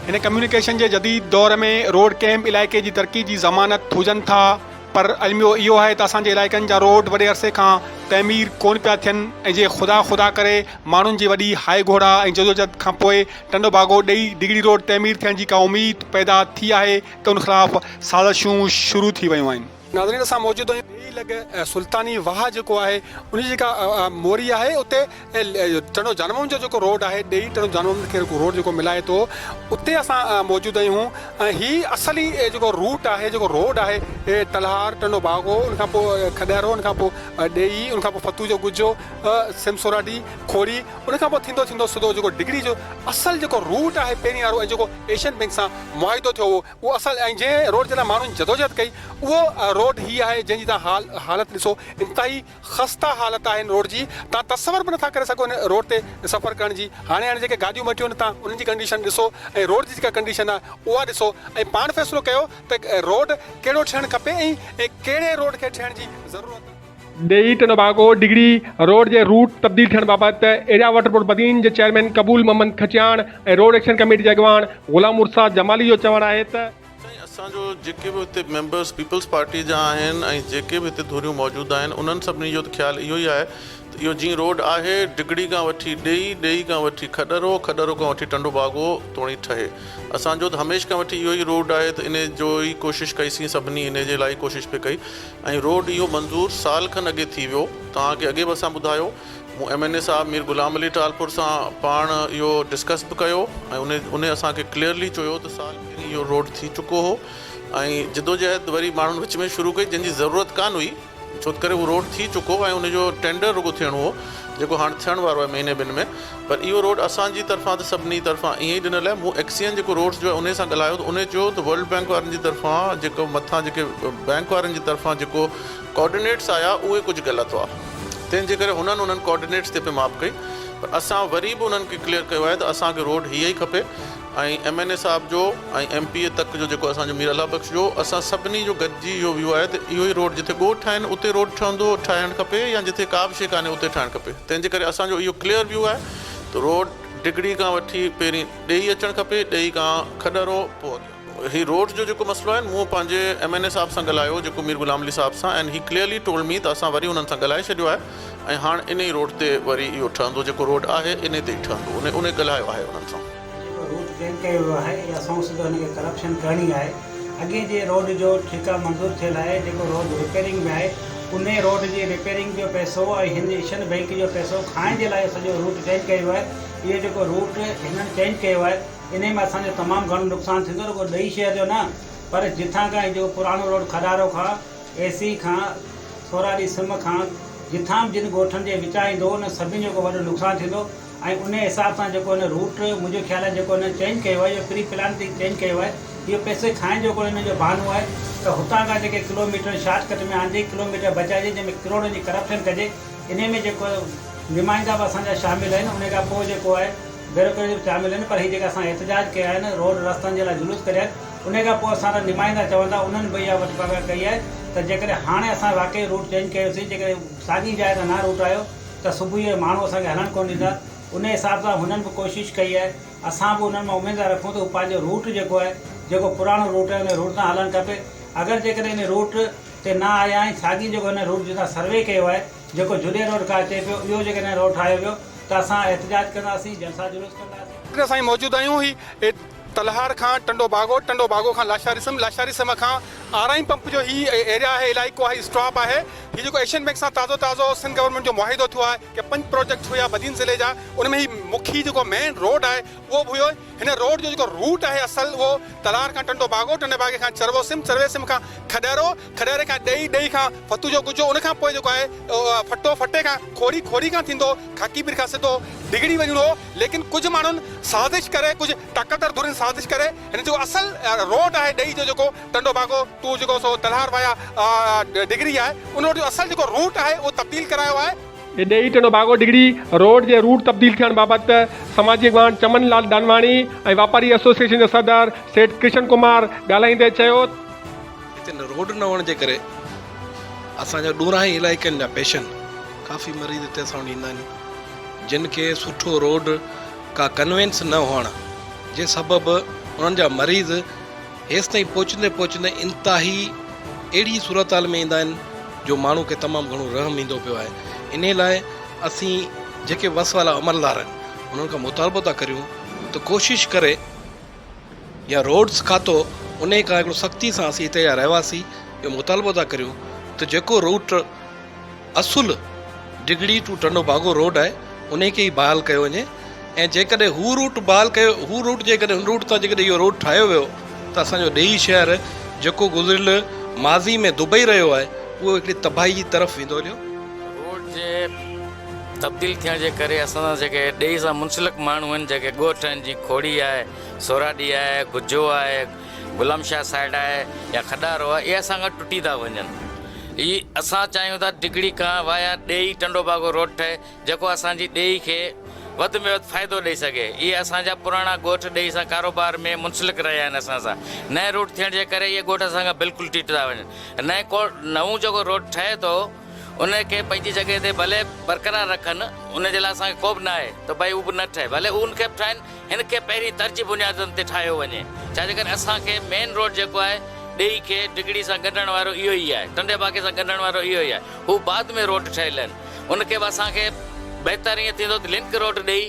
هن ڪميونيڪيشن جي جديد دور ۾ روڊ ڪنهن به علائقي جي ترقي جي ضمانت هجن ٿا پر الميو اهو آهي ته اسان جي علائقن جا روڊ وڏي عرصي کان تعمير ڪون پيا ٿين ۽ جي خدا خدا ڪري ماڻهن جي وڏي هائي گهوڙا ۽ جدوجهد کان پوء ٽنڊو ڀاڳو ڏئي ڊگهڙي روڊ تعمير ٿيڻ جي ڪا اميد پيدا ٿي آهي ته ان خلاف سازشون شروع ٿي ويون آهن. ناظرين اسان موجود آهيون ويهي لڳ سلطاني واهه جيڪو آهي ان جي جيڪا موري آهي اتي ٽنڊو جانمم جو جيڪو روڊ آهي ڏيئي ٽنڊو جانمم کي روڊ جيڪو ملائي ٿو اتي اسان موجود آهيون ۽ هي اصل ئي جيڪو روٽ آهي جيڪو روڊ آهي ٽلهار ٽنڊو باگو ان کان پوء کڏهرو ان کان پوء ڏيئي ان کان پوء فتوح جو ڳجهو سم سوراڊي کوڙي ان کان پوء ٿيندو ٿيندو سڌو جيڪو ڊگهڙي جو اصل جيڪو روٽ آهي پهرين وارو ۽ جيڪو ايشين بئنڪ سان معاهدو ٿيو هو اهو اصل ۽ جنهن روڊ تي نه ماڻهن جدوجهد ڪئي اهو روڊ هي آهي جنهن جي توهان حال حالت ڏسو انتهائي خسته حالت آهي ان روڊ جي توهان تصور به نٿا ڪري سگهو ان روڊ تي سفر ڪرڻ جي هاڻي هاڻي جيڪي گاڏيون مٽيون آهن توهان انهن جي ڪنڊيشن ڏسو ۽ روڊ جي جيڪا ڪنڊيشن آهي اها ڏسو ۽ پاڻ فيصلو ڪيو ته روڊ ڪهڙو ٺهڻ کپي ۽ ڪهڙي روڊ کي ٺهڻ جي ضرورت ڏيئي ٽنڊو باگو ڊگهڙي روڊ جي روٽ تبديل ٿيڻ بابت ايريا واٽر بورڊ بدين جي چيئرمين قبول Mohammad Kachiyan ۽ road action committee جي اڳواڻ غلام مرسا جمالي جو چوڻ آهي ته. سائين اسان جو جيڪي به هتي ميمبرس پيپلز پارٽي جا آهن ۽ جيڪي به هتي ڌريون موجود آهن انهن سڀني جو ته خيال اهو ئي آهي ته اهو جئين روڊ آهي ڊگهڙي کان وٺي ڏيئي ڏيئي کان وٺي کڏرو کڏرو کان وٺي ٽنڊو باگو توڻي ٺهي اسان جو ته هميشھ کان وٺي اهو ئي روڊ آهي ته انهي جو ئي ڪوشش ڪئي سين سڀني انهي جي لاء ئي ڪوشش پئي ڪئي ۽ روڊ اهو منظور سال کن اڳي ٿي ويو توهان کي اڳي به اسان ٻڌايو مون ايم اين اي صاحب مير غلام علي ٽالپر سان پاڻ اهو ڊسڪس به ڪيو ۽ انهي اسان کي ڪليئرلي چيو ته سال پهرين اهو روڊ ٿي چڪو هو ۽ جدوجهد وري ماڻهن وچ ۾ شروع ڪئي جنهن جي ضرورت ڪانه هئي ڇوتڪري اهو روڊ ٿي چڪو هو ۽ انهي جو ٽينڊر رڳو ٿيڻو هو جيڪو هاڻ ٿيڻ وارو آهي مهيني ٻن ۾ پر اهو روڊ اسان جي طرفان ته سڀني طرفان ائين ئي ڏنل آهي، مون ايڪسچينج جيڪو روڊز جو آهي انهي سان ڳالهايو ته انهي چيو ته ورلڊ بينڪ وارن جي طرفان جيڪو مٿان جيڪي بينڪ وارن جي طرفان جيڪو ڪوآرڊينيٽس آيا اهي ڪجهه غلط هئا تنهن جي ڪري هنن انهن ڪوآرڊينيٽس تي پئي ماپ ڪئي پر اسان وري به انهن کي ڪليئر ڪيو آهي ته اسان کي روڊ هيء ئي کپي ۽ ايم اين اي صاحب جو ۽ ايم پي اي تڪ جو جيڪو اسان جو مير الله بخش جو اسان سڀني جو گڏجي اهو ويو آهي ته اهو ئي روڊ جتي ڳوٺ آهن اتي روڊ ٺهندو ٺاهڻ کپي يا جتي ڪابه شيء ڪانهي اتي ٺاهڻ کپي تنهن جي ڪري اسان جو اهو ڪليئر ويو آهي ته روڊ ڊگهڙي کان وٺي پهرين ڏيئي اچڻ کپي ڏيئي کان کڏهرو پوء اڳيان هي روڊ جو جيڪو مسئلو آهي مون پنهنجي ايم اين اي صاحب سان ڳالهايو جيڪو مير غلام علي صاحب سان and he clearly told me ته اسان وري انهن سان ڳالهائي ڇڏيو آهي. ۽ هاڻ انهي روڊ تي وري اهو ٺهندو جيڪو روڊ آهي انهي تي ئي ٺهندو انهي انهي ڳلهايو آهي انهن سان. جيڪو روڊ پلان ڪيو ويو آهي اها سئو سڌو هن کي ڪرپشن ڪرڻي آهي اڳي جي روڊ جو ٺيڪا منظور ٿيل آهي جيڪو روڊ رپيرنگ ۾ آهي انهي روڊ جي رپيرنگ جو پئسو ۽ هن ايشن بينڪ جو پئسو کائڻ جي لاء اهو سڄو روڊ چينج ڪيو ويو آهي اهو جيڪو روڊ هنن چينج ڪيو آهي انهي ۾ اسان جو تمام گهڻو نقصان ٿيندو رڳو ڏهي شهر جو نه پر جتان کان هي جيڪو پراڻو روڊ کڏارو کان اي سي کان ٿورا ڏينهن سم کان جتان به جن ڳوٺن جي وچان ايندو هو ان سڀني جو ڪو وڏو نقصان ٿيندو هو ۽ انهي حساب سان جيڪو هن روٽ منهنجو خيال آهي جيڪو هن چينج ڪيو آهي اهو پري پلان ٿي چينج ڪيو آهي اهو پئسي کائڻ جو ڪو هن جو بهانو آهي ته هتان کان جيڪي ڪلو ميٽر شارٽ ڪٽ ۾ آندي ڪلو ميٽر بچائجي جنهن ۾ ڪروڙن جي ڪرپشن ڪجي انهي ۾ جيڪو نمائندا به اسان جا شامل آهن انهي کان پوء جيڪو آهي بيروڪريٽ به شامل آهن پر هي جيڪا اسان احتجاج ڪيا آهن روڊ رستن جي لاء جلوس ڪڍيا آهن انهيء کان پوء اسان جا نمائندا چون ٿا انهن به اها وٽڪاڳاهه ڪئي آهي ته جيڪڏهن هاڻي اسان واقعي روٽ چينج ڪيوسين جيڪڏهن ساڳي جاء تان نه روٽ آيو ته صبح جو ماڻهو اسان کي هلڻ ڪونه ڏيندا انهيء حساب سان هنن به ڪوشش ڪئي آهي اسان به انهن مان اميد ٿا رکون ته هو پنهنجو روٽ جيڪو آهي جيڪو پراڻو روٽ آهي انهيء روٽ تان هلڻ کپي اگر جيڪڏهن انهيء روٽ تي نه آيا آهن ساڳي جيڪو هنن روٽ جتان سروي ڪيو آهي جيڪو جڏي روڊ ڪا اچي پيو اهو جيڪڏهن روٽ ٺاهيو ويو ته اسان احتجاج ڪنداسين جلسا جلوس ڪنداسين. ڊاڪٽر سائين موجود آهيون هي. تلهار کان ٽنڊو باگو، ٽنڊو باگو کان لاشاري سم، لاشاري سم کان آرائين پمپ جو هي ايريا آهي، علائقو آهي، اسٽاپ آهي. هي جيڪو ايشين بينڪ سان تازو تازو سنڌ گورنمينٽ جو معاهدو ٿيو آهي يا پنج پروجيڪٽ هيا بدين ضلعي جا ان ۾ هي مکي جيڪو مين روڊ آهي اهو به هيو. هن روڊ جو جيڪو روٽ آهي اصل اهو تلهار کان ٽنڊو باگو، ٽنڊي باگي کان چروو سم، چروي سم کان کڏهرو، کڏهري کان ڏهي، ڏهي کان فتوح جو ڳجهو، ان کان پوء جيڪو آهي ڦٽو، ڦٽي کان کوري، کوري کان ٿيندو خاڪي پير کان سڌو ڊگهڙي وڃڻو هو، ليڪن ڪجهه ماڻهن سازش ڪري، ڪجهه طاقتور ڌرين سازش ڪري، هن جيڪو اصل روٽ آهي ڏهي جو جيڪو ٽنڊو ڀاڳو ٽو جيڪو سو تلهار وايا ڊگهڙي آهي، ان روٽ جو اصل جيڪو روٽ آهي اهو تبديل ڪرايو آهي. ڏهي ٽنڊو ڀاڳو ڊگهڙي روٽ جي روٽ تبديل ٿيڻ بابت سماجي اڳواڻ چمن لال ڏانواڻي ۽ واپاري ايسوسيئيشن جا صدر سيٺ ڪرشن ڪمار ڳالهائيندي چيو، هتي روڊ نه هئڻ جي ڪري اسان جا ڏورانهين علائقن جا پيشنٽ ڪافي مريض هتي اسان وٽ ايندا آهن جن کي سٺو روڊ ڪا ڪنوينس نه هئڻ جي سبب انهن جا مريض هيستائين پهچندي پهچندي انتهائي اهڙي صورتحال ۾ ايندا آهن جو ماڻهو کي تمام گهڻو رحم ايندو پيو آهي انهي لاء اسين جيڪي وس وارا عملدار آهن انهن کان مطالبو ٿا ڪريون ته ڪوشش ڪري يا روڊز کاتو انهي کان هڪڙو سختي سان اسين هتي جا رهواسي اهو مطالبو ٿا ڪريون ته جيڪو روٽ اصل ڊگهڙي ٽو ٽنڊو باگو روڊ آهي انهي کي ئي بحال ڪيو وڃي ۽ جيڪڏهن هو روٽ بحال ڪيو هو روٽ جيڪڏهن ان روٽ تان جيڪڏهن اهو روڊ ٺاهيو ويو ته اسان جو ڏيئي شهر جيڪو گذريل ماضي ۾ دبئي رهيو آهي اهو هڪڙي تباهي جي طرف ويندو هليو روڊ جي تبديل ٿيڻ جي ڪري اسان سان جيڪي ڏيئي سان منسلڪ ماڻهو آهن جيڪي ڳوٺ آهن جيئن کوڙي آهي، سوراڏي آهي، گجو آهي، غلام شاهه سائيٽ آهي يا کڏارو آهي اهي اسان کان ٽٽي ٿا وڃن. اهي اسان چاهيون ٿا ڊگهڙي کان وايا ڏيئي ٽنڊو باگو روڊ ٺهي جيڪو اسان جي ڏيئي کي وڌ ۾ وڌ فائدو ڏئي سگهي. اهي اسان جا پراڻا ڳوٺ ڏيئي سان ڪاروبار ۾ منسلڪ رهيا آهن اسان سان. نئين روڊ ٿيڻ جي ڪري اهي ڳوٺ اسان کان بلڪل ٽٽي ٿا وڃن. نئين ڪو نئون جيڪو روڊ ٺهي ٿو. ان کي پنهنجي جڳهه تي ڀلي برقرار رکن، ان جي لاء اسان کي خوف ناهي ته ڀئي هو به نه ٺهي، ڀلي هو ان کي به ٺاهين، هن کي پهرين ترجي بنيادن تي ٺاهيو وڃي، ڇا جيڪڏهن اسان کي مين روڊ جيڪو آهي ڏيئي کي ڊگهڙي سان ڳنڍڻ وارو اهو ئي آهي، ٽنڊي باگي سان ڳنڍڻ وارو اهو ئي آهي، هو بعد ۾ روڊ ٺهيل آهن، ان کي به اسان کي بهتر ائين ٿيندو ته لنڪ روڊ ڏئي،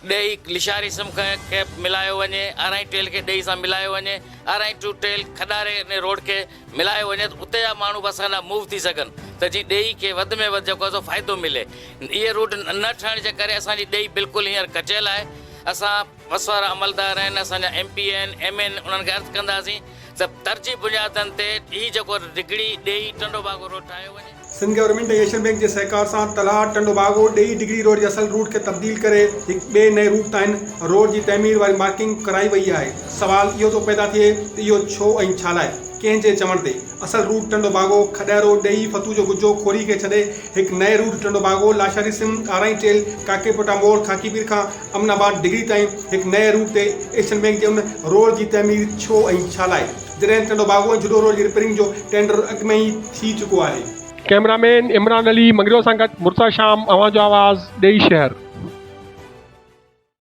ڏيئي لشاري سم کي ملايو وڃي، ارائين ٽيل کي ڏيئي سان ملايو وڃي، ارائين ٽو ٽيل کڏاري روڊ کي ملايو وڃي ته اتي جا ماڻهو به اسان ڏانهن موو ٿي سگهن ته جيئن ڏيئي کي وڌ ۾ وڌ جيڪو آهي سو فائدو ملي. اهي روڊ نه ٺهڻ جي ڪري اسان جي ڏيئي بلڪل هينئر ڪچيل آهي. اسان پس وارا عملدار آهن، اسان جا ايم پي آهن، ايم اين انهن کي عرض ڪنداسين ته ترجيح بنيادن تي هي جيڪو ڊگهڙي ڏيئي ٽنڊو باگو روڊ ٺاهيو وڃي. سنڌ گورنمينٽ ۽ ايشين بئنڪ جي سهڪار سان تلهاٽ ٽنڊو باگو ڏيئي ڊگري روڊ جي اصل روٽ کي تبديل ڪري هڪ ٻئي نئين روٽ تائين روڊ جي تعمير واري مارڪنگ ڪرائي وئي آهي سوال اهو ٿو پيدا ٿئي ته اهو ڇو ۽ ڇا لاء ڪنهن جي چوڻ تي اصل روٽ ٽنڊو باگو کڏهرو ڏيئي فتوح جو ڳجهو کوري کي ڇڏي هڪ نئين روٽ ٽنڊو باگو لاشاري سم ڏارائين ٽيل ڪاڪي پوٽا موڙ خاڪي پير کان امن آباد ڊگري تائين هڪ نئين روٽ تي ايشين بئنڪ جي ان روڊ جي تعمير ڇو ۽ ڇا لاء جڏهن ٽنڊو باگو ۽ جهڏو روڊ جي رپيرنگ جو ٽينڊر اڳ ۾ ئي ٿي چڪو آهي. ڪئميرا مين عمران علي مڱريو سان گڏ مرتضيٰ شام اوهان جو آواز ڏيئي شهر.